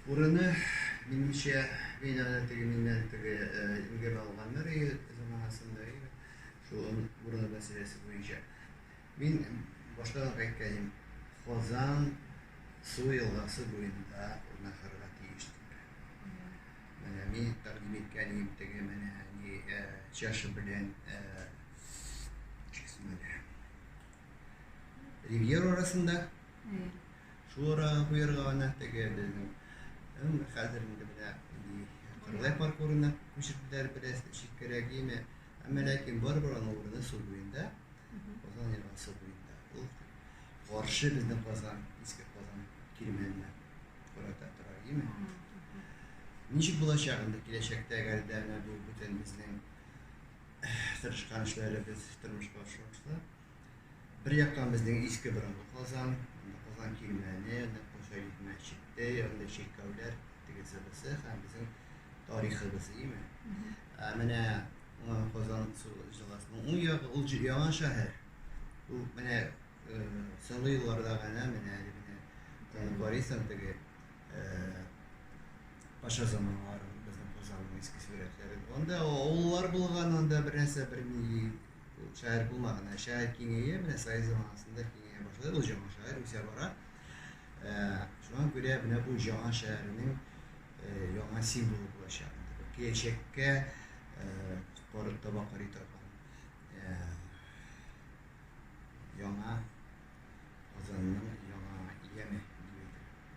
Урыны, минемчә, мин аны теге миннән теге ингер алганнар өе заманасында иде, шул урыны мәсьәләсе буенча. Мин башта ук әйткән идем, Казан су елгасы буенда урнашырга тиеш дип. Менә мин тәкъдим иткән идем теге менә ни чаша белән Ривьер арасында. Шул арага куярга гына теге безнең м, хәзер инде менә ди, Кырлай паркурына күчерделәр бераз читкәрәк име. Әмма ләкин барыбер аның урыны су буенда, Казан елгасы буенда. Ул каршы безнең Казан, иске Казан кирмәненә карата тора име. Ничек булачак инде киләчәктә әгәр дә менә бу бүтән безнең тырышкан эшләребез тормышка ашырылса, Бер яктан безнең иске борынгы Казан, анда Казан кирмәне, нәкъ Мөҗәлид мәчете, анда чиркәүләр, тегесе бусы һәм безнең тарихыбыз, име? Ә менә Казан җыласының уң ягы ул яңа шәһәр. Ул менә соңгы елларда гына менә менә Борисов теге Паша заманнары безнең Казанның иске сурәтләре. Анда авыллар булган, анда бер нәрсә бер ни Ул шәһәр булмаган, ә шәһәр киңәя, менә Совет заманасында киңәя башлады, ул җама шәһәр үсә бара. Шуңа күрә менә бу җама шәһәрнең яңа символы булачак. Киләчәккә корып таба карый торган яңа Казанның яңа яме.